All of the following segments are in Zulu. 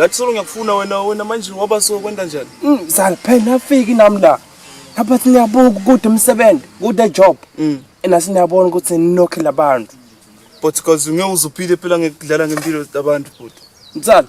ngathi solo ngiyakufuna wena wena manje waba so kwenta njani mm, sal phela nafiki nami la lapha siniyabuka ukuthi umsebenzi kude job mm. ena siniyabona ukuthi ninokhe labantu but cause ngeke uzuphile phela ngekudlala ngempilo zabantu futhi msala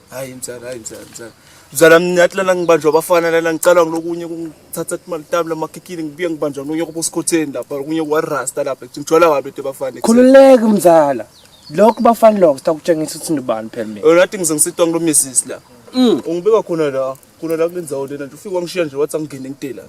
hayi mzala hayi mzala mzala mzala mina athi lana ngibanjwa abafana lana ngicala ngilokunye kungithatha imali tami lamakhikhini ngibuye ngibanjwa ngilokunye kubosikhotheni lapha kunye kuwarasta lapha ngijwala wabi into bafana khululeka mzala lokho bafana lokho sitakutshengisa ukuthi ndibani phela mina yona athi ngize ngisitwa ngilo misisi la mm. ungibeka khona la khona la kulenzawo lena nje ufike wangishiya nje wathi angingene ngidela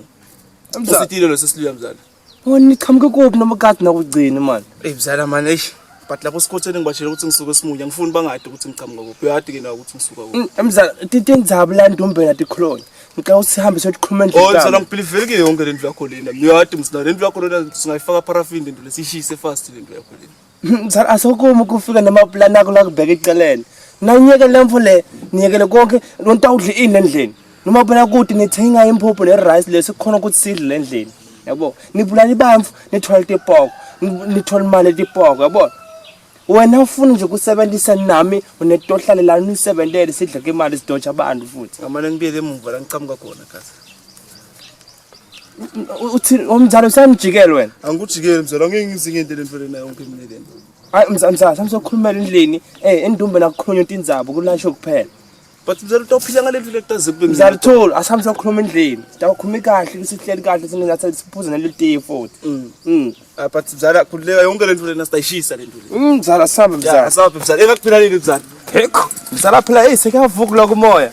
mzala usitile lo sesiliya mzala Mani niqhamuke kuphi noma kade nakugcini mani. Ey mzala mani eish. But lapho sikhotheni ngibatshela ukuthi ngisuke esimunye angifuni bangade ukuthi ngiqhamuka kuphi. Uyade ke nawe ukuthi ngisuka kuphi. Mm, mzala tinte ndzaba la ndombela tikhulona. Ngicela ukuthi sihambe siyokhuluma endlini. Oh mzala ngibhilivele ke yonke lendlu yakho lena. Uyade mzala lendlu yakho lena singayifaka paraffin lendlu lesishise fast lendlu yakho lena. Mzala asokumi kufika namaplan akho la kubheka eceleni. Nanyeke le mfo le, niyekele konke nontawudla ini endlini. Noma phela kuthi nithenga imphuphu ne rice lesi khona ukuthi sidle endlini. Yabo, nibulala ibamfu, nithola itipoko, nithola imali etipoko, yabo. Wena ufuna nje kusebenzisa nami unetohlale la nisebenzele sidle ke imali sidoja abantu futhi. Ngamane ngibuyele emuva la ngiqhamuka khona gazi. uthini omzala usamjikele wena angikujikeli mzala ngeke ngizinge into lentfele nayo onke mina lena hayi mzala mzala samsokhulumela endlini eh endumbe nakukhulunywa into inzabo kulasho kuphela but mzala utawuphila ngale ndlela ekutaze kube mzala thol asambe sokhuluma endlini tawukhuluma kahle kusihleli kahle sinengathi siphuze nale tiye futhi mm. mm ah, but mzala khululeka yonke lento lena sitayishisa lento le mm, mzala sambe mzala sambe mzala engakuphila nini mzala hekho mzala phela hey sekavuka la kumoya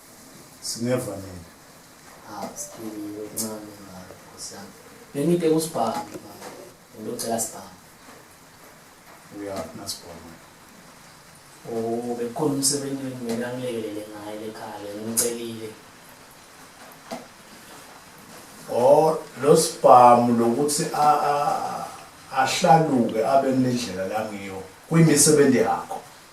Singeva nini? Ah, siphilile okuncane ngayo Nkosi yami. Bengide kusibhamu mama. Ngilocela sibhamu. Uya nasibhamu. Oh, bekukhona umsebenzi mina ngilekelele ngaye lekhaya ngicelile. Oh, lo sibhamu lokuthi a a ahlaluke abe nendlela la ngiyo. Kuyimisebenzi yakho.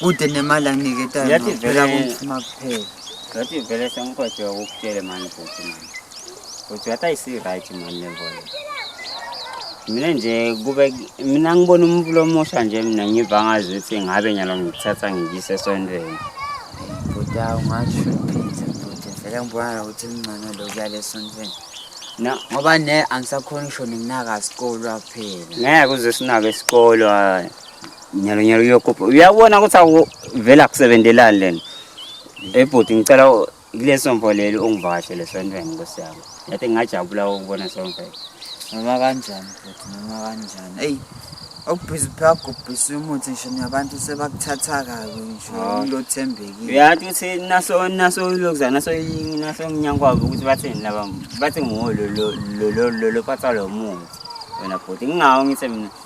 kude nemali anginiketayo Yathi vele- phela kungifuna kuphela ngathi vele sengikhohlwe ukutshele mani bhuti mani bhuti ngathi ayisi-right mani le mboyo mina nje kube mina ngibona umuntu lomusha nje mina ngiva ngazi ukuthi ngabe nyalo ngikuthatha ngikise esontweni bhuti awu ungashuphitha bhuti vele ngibona nokuthi kungcono lokuya lesontweni na ngoba ne angisakhoni ngisho nikunaka sikolwa kuphela ngeke uze sinake isikolo hhayi nyalo nyalo uyokhupha uyabona ukuthi akuvela kusebenzelani lena ebhuti eh, ngicela kuleso mfo leli ungivakashele esontweni nkosi yami yathi ngingajabula ukubona somfo noma kanjani bhuti noma kanjani eyi okubhizi phakubhisa umuthi ngisho nabantu sebakuthatha kabi ngisho ah. ulothembekile uyathi ukuthi naso naso lokuzana naso naso nginyankwabo ukuthi bathini laba bathi nguwo lo lo lo lo lo phatha lo muthi wena bhuti ngingawo ngithe mina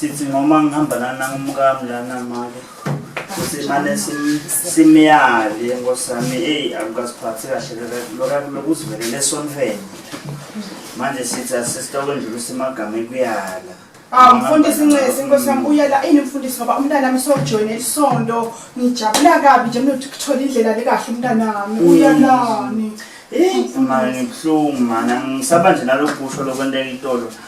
sithi ngoma ngihamba lana umkami lana make simane simyale nkosami eyi akukasiphathi kahle lokuzivelele sonfene manje sithi asisitokwenjula usemagama ekuyala Ah mfundisi Ncesi inkosi yami uyela ini mfundisi ngoba umntana wami sojoyina isonto ngijabula kabi nje mina ukuthola indlela lekahle umntana wami mm. uyalani Eh mfundisi ngibhlungu mana ngisaba nje nalokusho lokwenteka itolo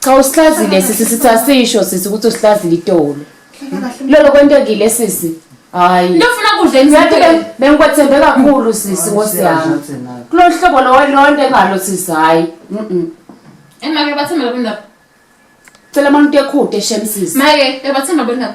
Cha usihlazile sisi sithi asisho sisi ukuthi usihlazile itolo. Lolo kwentekile sisi. Hayi. Lofuna kudla Ngathi emzini. be- bengikwethembe kakhulu sisi nkosi yami. Kulo hlobo lowe lonto engalo sisi hayi. Mhm. Emake bathemba labo ndaba. Cela manje utekhute shem sisi. Make, ebathemba labo ndaba.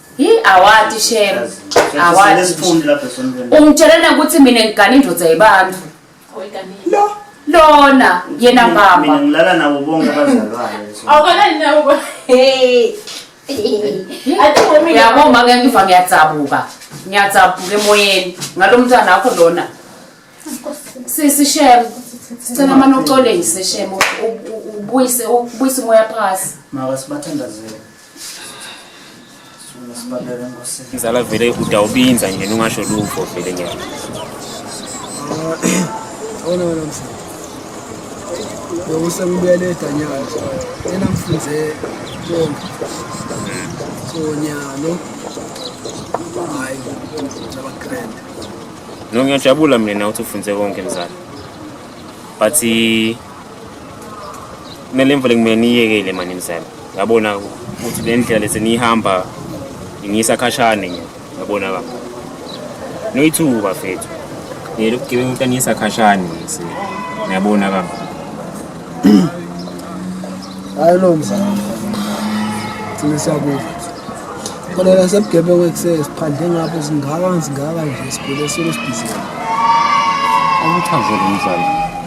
Hi awati shem. Awati. Ungitshelena ukuthi mina ngigana indoda yebantu. Lo lona yena mama. Mina ngilala nabo bonke abazalwane. Awukalali nabo. Hey. Yabo maka ngiva ngiyadzabuka. Ngiyadzabuka emoyeni ngalo mntana wakho lona. Sisi shem. Sicela manje uxolise shem ubuyise ubuyise umoya phasi. Maka sibathandazele. Ngizala vele udawubinza nje ungasho lutho vele nje. Ona wena mfana. Yowuse ngibuyele edanyana. Yena mfunze konke. Sonyalo. Hayi. Ngaba grand. No ngiyajabula mina ukuthi ufunze konke mzala. But kumele imvule kumele niyekele mani mzala yabona ukuthi le ndlela leseniyihamba ingiyisa khashane nje yabona ka noyithuka fethu ngiyele ukugebenga ukuthi angiyisa khashane ngise yabona ka hayi lo mzala thina siyakuva kodwa la sebugebengu ekusele siphandle ngapho singaka singaka nje sigule solo sibhizile akuchazele umzala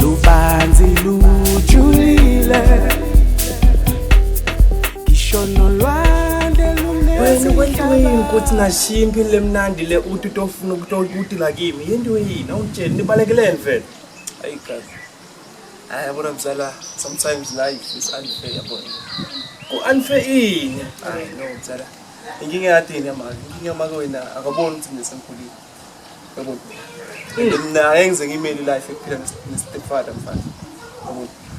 lubanzi lujulile ngisho nolwandle wena kwento yini ukuthi ngashiya impilo emnandi le uthi utofuna ukutokutila kimi yinto yini awungitsheli nibalekeleni vele ayi gazi hayi yabona mzala sometimes life is unfair yabona ku-unfair ini hayi no mzala inkinga yadini yamake inkinga yamake wena akaboni ukuthi nginesemkhulile mina ngeke ngize ngiyimele life ekuphila nestepfather mfana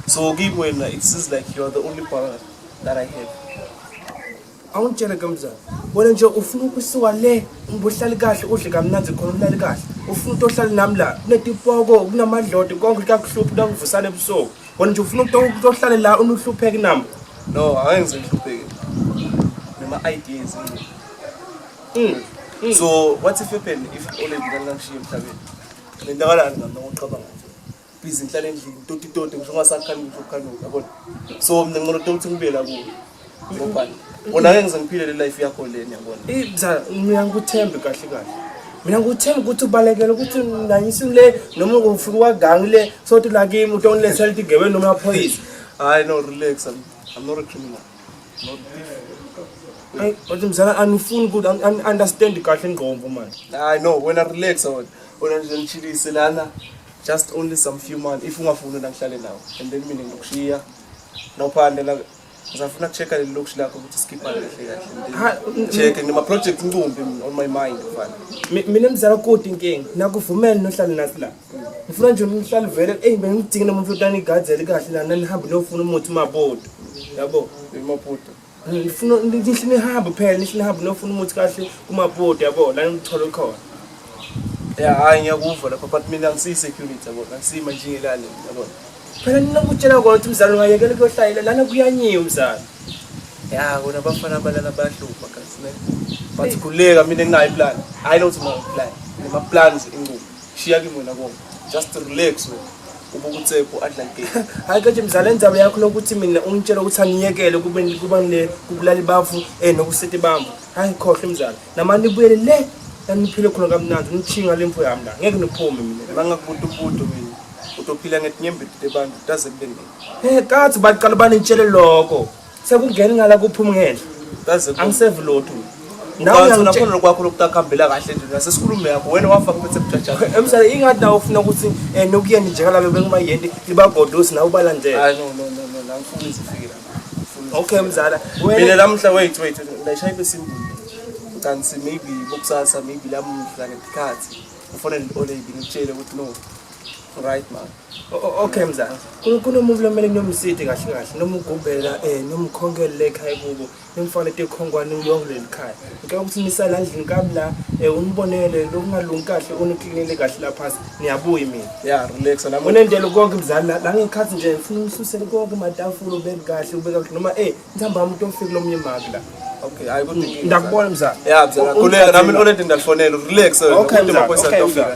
so kimi wena it seems like you are the only brother that i have awungitshele ke mzala bona nje ufuna ukusuka le ubuhlali kahle udle kamnandi khona ulali kahle ufuna ukuthi ohlale nami la kunetipoko kunamadlodi konke kuyakuhlupha nakuvusana ebusuku bona nje ufuna ukuthi ohlale la unuhlupheki nami no angeke ngize ngihlupheke nema-ideas Mm. Mm. So what if happen if only ngidala ngishiye emhlabeni? Ngendakalani ngami ngokucabanga nje. Busy ngihlale endlini, toti toti ngisho ngasakhani ngisho khanuka yabona. So mina ngicela ukuthi ngibe la kuwe. Ngoba wona ke ngizengiphile le life yakho leni yabona. Ibza mina ngikuthembe kahle kahle. Mina ngikuthembe ukuthi ubalekele ukuthi nanyisi le noma ngifuna kwagangi le sothi la kimi utonile selthi gebe noma phoyisa. Hayi no relax I'm, I'm not a criminal. Ay, but mzala anifuni ukuthi an- an- understand kahle ingqondo man. I know when I relax on on and chili selana just only some few months if ungafuni na ngihlale nawe and then mina ngikushiya no phande la ngizafuna kuchecka leli lokushi lakho ukuthi skipha kahle Ha, kahle mm, check and my project ngcumbi on my mind mfana Mi- Mina mzala kodwa inkingi nakuvumela nohlale nathi la. ngifuna nje umhlali vele eyi bengidinge nomuntu otani igadzele kahle lana nihambe niyofuna umuthi umabodo yabo imabodo ngifuna nihle nihambe phela nihle nihambe niyofuna umuthi kahle kumabodo yabo lana ngithole khona ya hayi ngiyakuva lapho but mina ngisiyisecurity yabo ngisima nje ngelale yabo phela ninokutshela kona ukuthi umzali ungayekela ukuyohlayela lana kuyanyiwe umzali ya kona abafana abalala bayahlupha kasine bathi khuleka mina nginayo iplan hayi nokuthi nginayo iplan namaplans inqubo shiya kimi wena kona just relax wena ubukutsepo adla game hayi kathi mzala indaba yakho lokuthi mina ungitshela ukuthi angiyekele kube kuba ne kubulali bafu eh nokusete bambo hayi khohle mzala namani buyele le naniphile khona kamnandi ngichinga lemfo yami la ngeke niphume mina bangakubuta ubudo mina utophila ngetinyembeti tebantu daze kube nini eh kathi baqala banitshele lokho sekungena ngala kuphuma ngene kaze angisevi lotho nawuyona khona lokwakho lokutakahambela kahle nje nasesikhulume yakho wena wafa kuphethe bujajayo emsale ingathi nawo ufuna ukuthi eh nokuyeni nje kalabe bekumayenti libagodosi nawo balandela hayi no no no no la ngifuna izifike la okay mzala mina lamhla wait wait ndayishaya ibe simple kanti maybe bokusasa maybe lamuhla ngesikhathi ufonele ole ibinitshele ukuthi no Right man. Okay mzansi. Kunomuntu lomele kunomsidi kahle kahle noma ugubhela eh noma ukhonkele ekhaya kubo. Nimfane tekhongwane uyonke leli khaya. Ngicela ukuthi nisala endlini kabla eh unibonele lokungalungi kahle uniklinele kahle la phansi. Niyabuya mina. Yeah, relax la. Unendelo konke mzali la ngikhathi nje ngifuna ususe konke matafula ubeke kahle ubeka kahle noma eh ngithamba umuntu ofike lomnye maki la. Okay, hayi kodwa ngiyakubona mzali. Yeah, mzali. Kuleka nami olento ngidalifonela. Relax. Okay, mzali. Okay, mzali.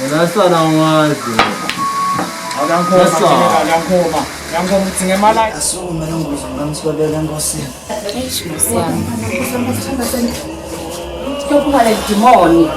Wena sala wazi. Akankhoma, akankhoma. Akankhoma ukuthi ngemali. Asukume lo ngozi ngamswabela enkosini. Eish musiyami. Kuyophuma le dimoni.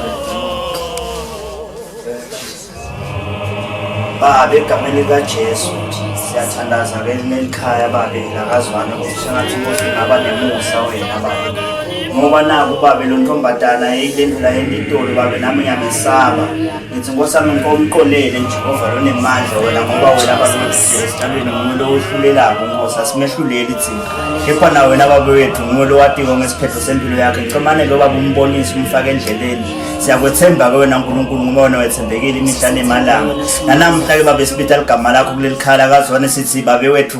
Baba egameni likaJesu siyathandaza ke lelikhaya babe lakazwana ukuthi sengathi inkosi ingaba nemusa wena baba. ngoba naku babe lo ntombadana eyilendlula yentitolo babe nami ngiyamesaba ngithi nkosi yami nkomqolele njehova lonemandla wena ngoba wena babeesithandweni nguwe lo ohlulelako nkosi asimehluleli thina kepha na wena babe wethu nguwe lo watiko ngesiphetho sempilo yakhe ngicomane lo baba umbonise umfake endleleni siyakwethemba-ke wena nkulunkulu ngoba wena wethembekile imihla nemalanga nanamhla-ke babe sibitha ligama lakho kuleli khala kazwane sithi babe wethu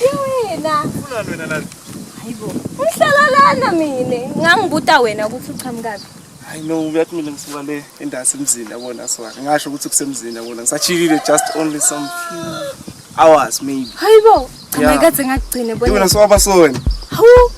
Iwena. Ufuna wena lana. Hayibo. Uhlala lana mina. Ngangibuta wena ukuthi uqhamukaphi. Hayi no uyathi mina ngisuka le endasi emzini yabona swaka. Ngasho ukuthi kusemzini yabona. Ngisachilile just only some few hours maybe. Hayibo. Cha ngeke ngathi ngakugcine bona. Wena swaba sona. Hawu.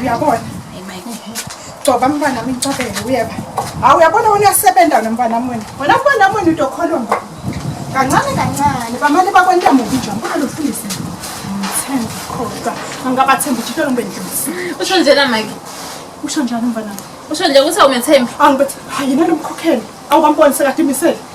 uyabona gcoba mntwana wami ngicobele uyeba hawu uyabona wena uyasebenza wena mntwana wami wena wena mntwana wami wena udokholwa mba kancane kancane bamane bakwenta mubi nje ngibona lofundisi ngithemba khodwa angabathemba ukuthi lolo ngibendlisi usho njena mike usho njani mntwana usho nje ukuthi awumethembi angibethe hayi yena lomkhokheli awubamboni sekade imisele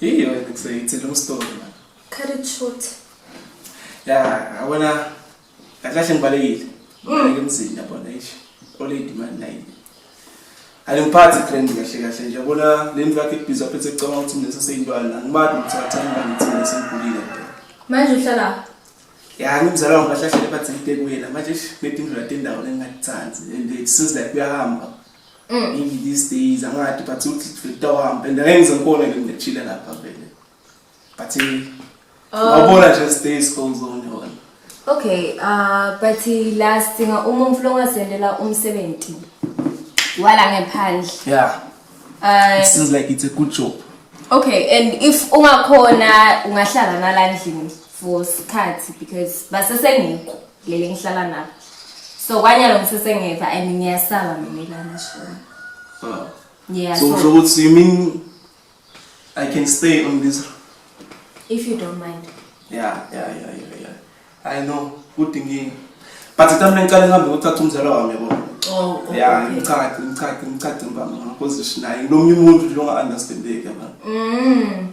Yiyo yena kuseyithi long story man. Cut it short. Ya, awona akahle ngibalekile. Ngeke mzini yabona ish. Oledi man nayi. Alimphathi trend kahle kahle nje yabona le ndlu yakhe ibhizi aphethe ecabanga ukuthi mina saseyintwana angimadi ukuthi athanda ngithini sengigulile. Manje uhlala ya ngimzala wangu bahlahlele bathi ngite kuyena manje ish ngedindlu latendawo lengingathandi and it seems like kuyahamba. Mm. Maybe these days angathi but uthi fitohambe and ngeke ngize ngikone ke ngechile lapha vele. But eh, Oh. wabona nje stay school zone yona. Okay, uh, but la sidinga uma umfula ongasendela umsebenzi wala ngephandle. Yeah, Uh, it seems like it's a good job. okay, and if ungakhona ungahlala nala ndlini for sikhathi because basesengekho. leli ngihlala nalo so kwanyalo ngisesengeva and ngiyasaba mina ilana shona oh. yeah, so usho ukuthi you mean i can stay on this if you don't mind yeah yeah yeah yeah, yeah. i know good inkinga but ithi mina ngicela ngihambe ngothatha umzala wami yabo oh, oh, ya ngicace ngicace ngicace mbama ngozishinayo nomunye umuntu nje onga-understandeki yabona mm.